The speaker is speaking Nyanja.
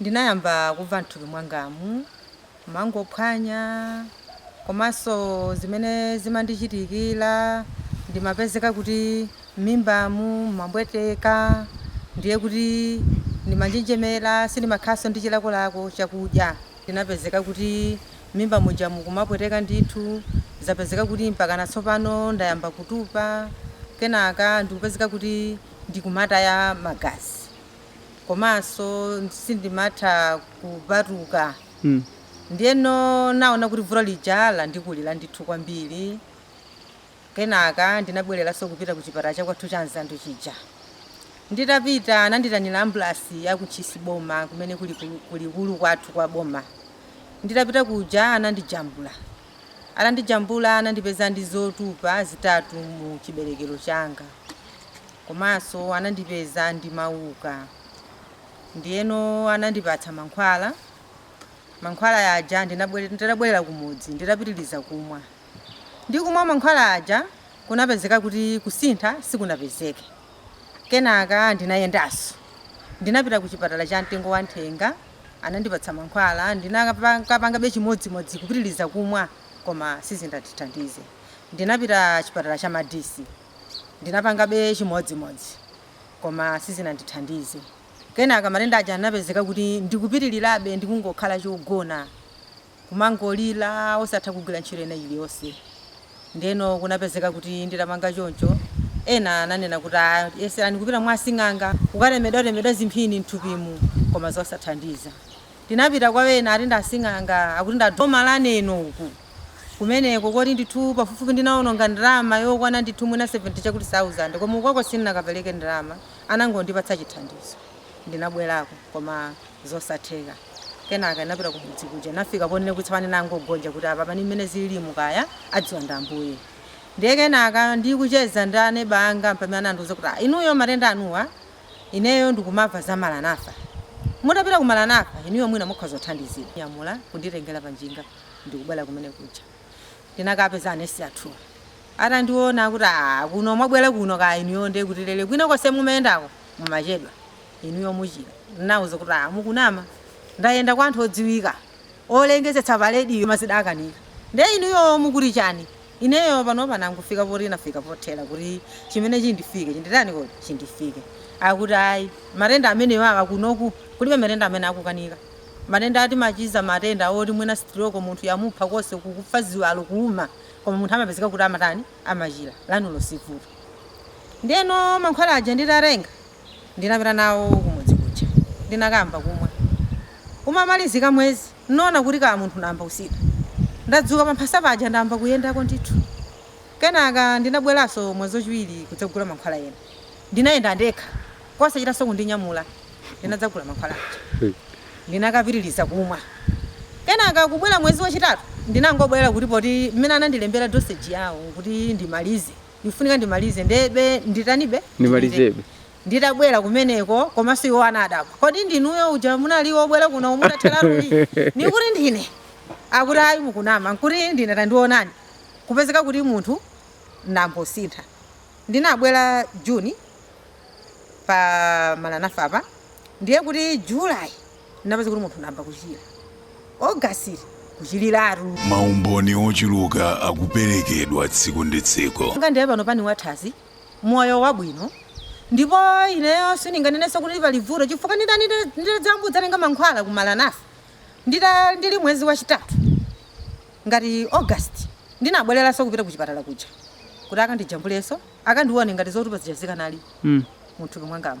ndinayamba kumva m'thupi mwangamu mumangophwanya komanso zimene zimandichitikira ndimapezeka kuti m'mimbamu mumampweteka ndiye kuti ndimanjenjemera sindimakhalanso ndi chilakolako chakudya ndinapezeka kuti m'mimba muja mukumapweteka ndithu zapezeka kuti mpakana tsopano ndayamba kutupa kenaka ndikupezeka kuti ndikumataya magazi. komanso sindimatha kupatuka. ndiyeno naona kuti vuto lija landikulira ndithu kwambiri kenaka ndinabwereranso kupita ku chipatala chakwathu cha nzandu chija nditapita ananditanira ambulasi ya ku Ntchisi boma kumene kuli likulu kwathu kwa boma nditapita kuja anandijambula Atandijambula anandipeza ndi zotupa zitatu mu chiberekero changa komanso anandipeza ndi mauka ndiyeno anandipatsa mankhwala, mankhwala aja ndinabwerera kumudzi nditapitiliza kumwa ndikumwa mankhwala aja kunapezeka kuti kusintha sikunapezeke. Kenaka ndinayendanso. Ndinapita ku chipatala cha mtengo wa nthenga, anandipatsa mankhwala, ndinakapangabe chimodzimodzi, kupitiliza kumwa koma sizinandithandize. Ndinapita chipatala cha Madisi, ndinapangabe chimodzimodzi koma sizinandithandize. Kenaka matenda aja anapezeka kuti ndikupitilirabe ndikungokhala chogona. kumangolira osatha kugwira ntchito ina iliyonse. Ndeno kunapezeka kuti nditapanga choncho, ena ananena kuti ah, yeserani kupita mwa asing'anga kukatemedwatemedwa zimphini mthupimu, koma zosathandiza. Ndinapita kwa ena ati ndi asing'anga, akuti ndi a boma la Neno uku. Kumeneko koti ndithu pafupifupi ndinaononga ndalama yokwana ndithu mwina 70 chakuti sauzande, koma ukoko sindinakapereke ndalama, anangondipatsa chithandizo. Ndinabwerako koma. zosatheka. Kenaka inapita kumudzi kuja inafika ponena kuti tsopano nangogonja kuti apapa ndi mmene zililimu kaya adziwa ndi Ambuye. Ndiye kenaka ndikucheza ndi aneba anga mpamene anandiuza kuti ah inuyo matenda anuwa ineyo ndikumava za Maranatha. Mutapita ku Maranatha inuyo mwina mukhoza kuthandizidwa. Nyamula kunditengera pa njinga ndikubwera kumene kuja. Ndinakapeza anesi athuwa. Atandiona akuti ah kuno mwabwera kuno kaya inuyo ndiye kuti lele kwina konse mumayendako mumachedwa. inuyo muchira. Ndinawauza kuti, Aa mukunama. Ndayenda kwa anthu odziwika, olengezetsa pa radio koma zidakanika. Ndiye inuyo mukuti chani? Ineyo panopa nangofika poti nafika pothera kuti chimene chindifike chinditani kuti? Chindifike. Akuti ayi, matenda amenewawa kunoku kulibe matenda amene akukanika. Matenda timachiza matenda oti mwina stroke munthu yamupha konse uku kufa ziwalo kuuma koma munthu amapezeka kuti amatani? Amachira. Lanulo si vuto. Ndiyeno mankhwala aja nditatenga. Ndinapita nawo kumudzi kuja ndinakamba kumwa umamalizika mwezi nona kuti ka munthu namba kusintha ndadzuka pamphasa paja ndamba kuyendako ndithu kenaka ndinabwelaso mwezi wachiwiri kudzagula mankhwala ena ndinayenda ndekha kosachitaso kundinyamula ndinadzagula mankhwala aja ndinakapitiliza kumwa kenaka kubwela mwezi wachitatu ndinangobwela kuti poti mmene anandilembela dosage yawo kuti ndimalize Ndifunika ndimalize ndebe nditanibe? Ndimalizebe. Nditabwera kumeneko komanso iwo anadabwa. Kodi ndinuyo uja munali wobwera kuno mutatheratu? Ndikuti ndine. Akuti ayi mukunama. Nkuti ndine tandiwonani. Kupezeka kuti munthu nambosintha. Ndinabwera June pa Maranatha apa ndiye kuti July. napeza kuti munthu namba kuchira August kuchiriratu Maumboni ochuluka akuperekedwa tsiku ndi tsiku. nga ndiye panopa ndi wathanzi moyo wabwino ndipo ineyo sindinganenenso kuti pali vuto chifukwa nditadzamba kudzatenga mankhwala ku Maranatha ndili mwezi wachitatu ngati august ndinabwereranso kupita ku chipatala kuja kuti akandijambulenso akandione ngati zotupa zija zikanali Mm. muthupi mwangamu